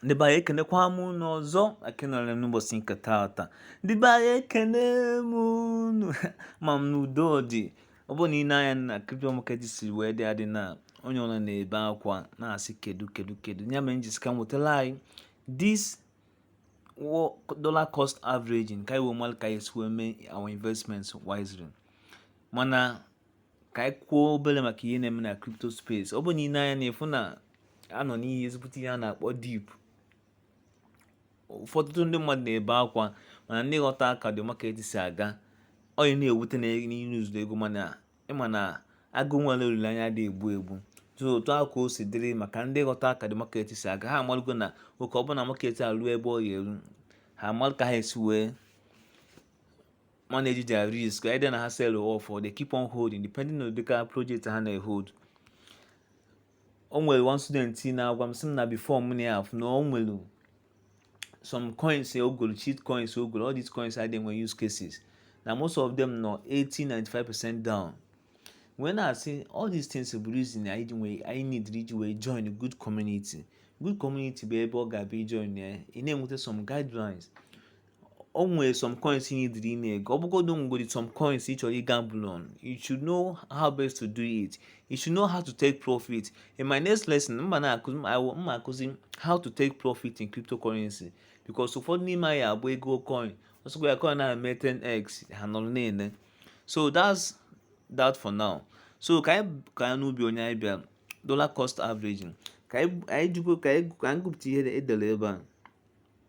ndị be anyị ekenekwa m unu ọzọ akenọrọ m n'ụbọchị nke taata ndị be anyị ekene m unu ma m n'udo dị ọ bụrụ na i nee anya na crypto market si wee dị adị na onye ọbụla na-ebe akwa na-asị kedu kedu kedu ya mere m ji sị ka m wetara anyị this dollar cost averaging ka anyị wee malụ ka esi wee mee our investments wisely mana ka anyị kwuo obere maka ihe na-eme na crypto space ọ bụ na i nee anya ị na-afụ na a nọ n'ihe ezigbote ihe a na-akpọ dip ụfọdụ ndị mmadụ na-ebe akwa mana ndị ghọta ka the market si aga ọ na-ewute na ị lose ego mana ị ma na agụụ nwere olileanya adị egbu egbu so otu ahụ ka o si dịrị maka ndị ghọta ka the market si aga ha amalụgo na oge ọbụla market a ruo ebe ọ ga-eru ha amalụ ka ha esi wee manage their risk either na ha sell off or they keep on holding depending on the kind of project ha na-ehold o nwere one student na-agwa m sị m na before m na na o nwere some coins o golo shit coins o golo all these coins adị enwe use cases na most of them nọ 80 95 percent down wee na-asị all these things bụ reason anyị ji nwee anyị need iji wee join good community good community bụ ebe ọ ga-abụ ị join ya ị na-enweta some guidelines o nwere some coins ị needịrị ị na-ego ọ bụgodu o nwegodi some coins ị chọrọ ịgamble on you should know how best to do it you should know how to take profit in my next lesson m ga na-akụzi m ga-akụzi how to take profit in cryptocurrency because ụfọdụ n'ime anyị abụ ego coin ọsọkwa ya coin na-eme 10x ha nọrọ na-ele so that's that for now so ka anyị ka anyị bịa n'ihe anyị bịara dollar cost averaging ka anyị jikwa ka anyị gụpụta ihe e dere ebe a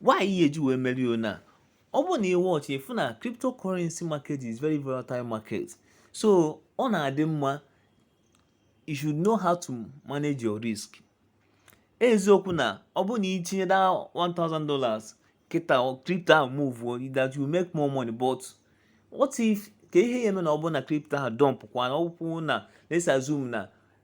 why ihe e ji wee mere ya na ọ bụrụ na ị watch ị fụ na cryptocurrency market is very volatile market so ọ na-adị mma you should know how to manage your risk eziokwu na ọ bụrụ na i tinye that 1000 dollars kịta crypto ahụ move that you make more money but what if ka ihe a eme na ọ bụrụ na crypto ahụ dump kwa na ọ bụrụ na let's assume na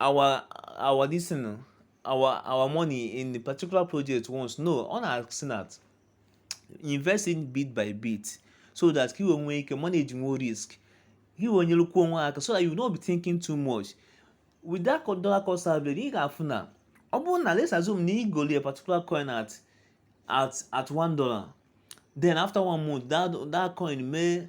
our our this thing o, our our money in a particular project once no ọ na-asị na investing bit by bit so that ka i wee nwee ike manage more risk ka i wee nyerekwuo onwe aka so that you no be thinking too much with that dollar cost averaging ị ga-afụ na ọ bụrụ na let's assume na i golu a particular coin at at at one dollar then after one month that that coin may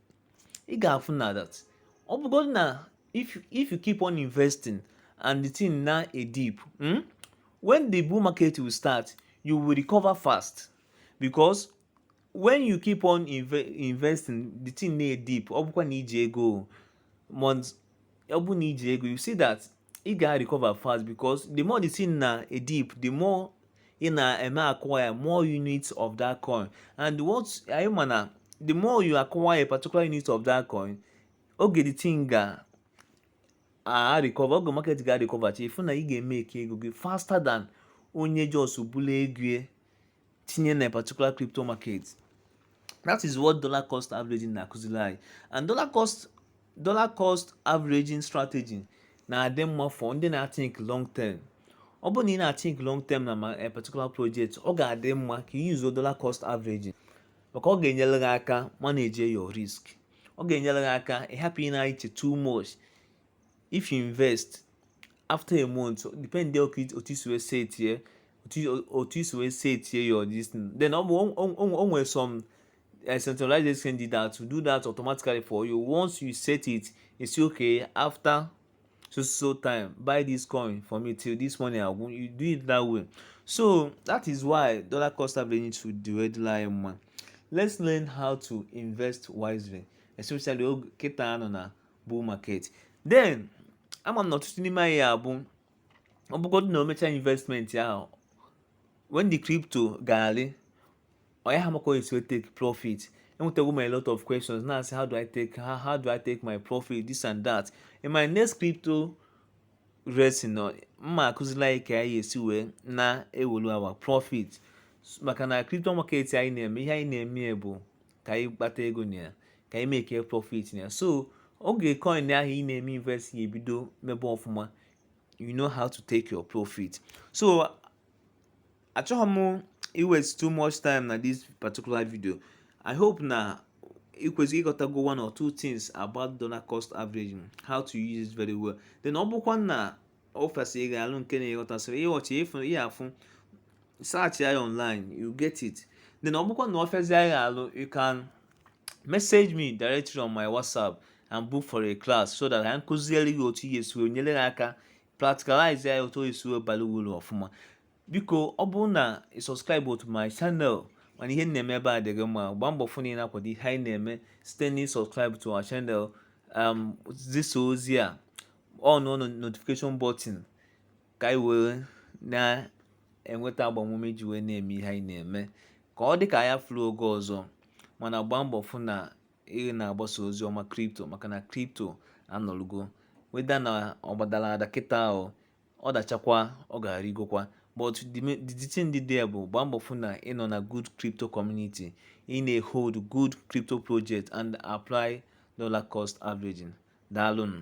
ị ga-afụ na that ọ bụgodị na if you, if you keep on investing and the thing na-edip hmm? when the bull market will start you will recover fast because when you keep on inve investing the thing na-edip ọ bụkwa na i ji ego months ọ bụ na i ji ego you see that ị ga recover fast because the more the thing na-adip the more ị na-eme acquire more units of that coin and what anyị ma na the more you acquire a particular unit of that coin oge the thing ga-arecover oge market ga recovercha ị fụ na ị ga-emake ego gị faster than onye just bulu ego tinye na particular crypto market that is what dollar cost averaging na-akụziri anyị and dollar cost averaging strategy na-adị mma for ndị na-athink long term ọ bụrụ na ị na-athink long term na ma eh, particular project ọ ga-adị mma ka ị use dollar cost averaging maka ọ ga-enyere gị aka manage your risk ọ ga-enyere gị aka ịhapụ ịna-eche too much if you invest after a month depend otu i si wee set ya otu isi wee setie your this thing then ọ bụ o nwere some eh, centralized exchange did that to do that automatically for you once you set it you say okay after so so time buy this coin for me till this money agwụ you do it that way so that is why dollar cost averaging to the red line mma let's learn how to invest wisely especially oge kịta anọ na bull market then ama m na ọtụtụ n'ime anyị abụ ọ bụgodị na o mechaa investment ahụ when the crypto ga-arị ọ yaha ama ka e si take profit enwetago m a lot of questions na-asị how do I take how, how do I take my profit this and that in my next crypto lesson m ma-akụzila anyị ka anyị esi wee na-ewelu our profit maka na crypto market anyị na-eme ihe anyị na-eme bụ ka anyị kpata ego na ya ka anyị make profit na ya so oge coin ahụ ị na-eme invest ya ebido mebe ọfụma you know how to take your profit so achọghị m iwaste too much time na this particular video i hope na ị kwesịrị ịghọtago one or two things about dollar cost averaging how to use it very well then ọ bụkwa na ọ fịasị gị alụ nke na-eghọtasịrị ihe ọchị ịfụ ihe afụ search ya online you get it then ọ bụkwa na ọ fịasị gị alụ you can message me directly on my whatsapp and book for a class so that anyị kụziere gị otu ị ya-esi wee nyere gị aka practicalize ya otu e si wee bara uru ọfụma biko ọ bụrụ na ị subscriberọ to my channel mana ihe na-eme ebe a dị gị mma gbaa mbọ fụ na ị na-akwado ihe anyị na-eme site na ịsubscribe to our channel um, zisa ozi a on notification button ka anyị wee na-enweta agbamume ji wee na-eme ihe anyị na-eme ka ọ dị ka anyị fụrụ oge ọzọ mana gbaa mbọ fụ na ị na-agbasa ozi ọma crypto maka na crypto anọlugo whether na ọ gbadara ada kịta ahụ ọ dachakwa ọ ga-arịgokwa but the, ma- the, the thing dị there bụ gbaa mbọ fụ na ị nọ na good crypto community ị na-ehold good crypto project and apply dollar cost averaging daalụnụ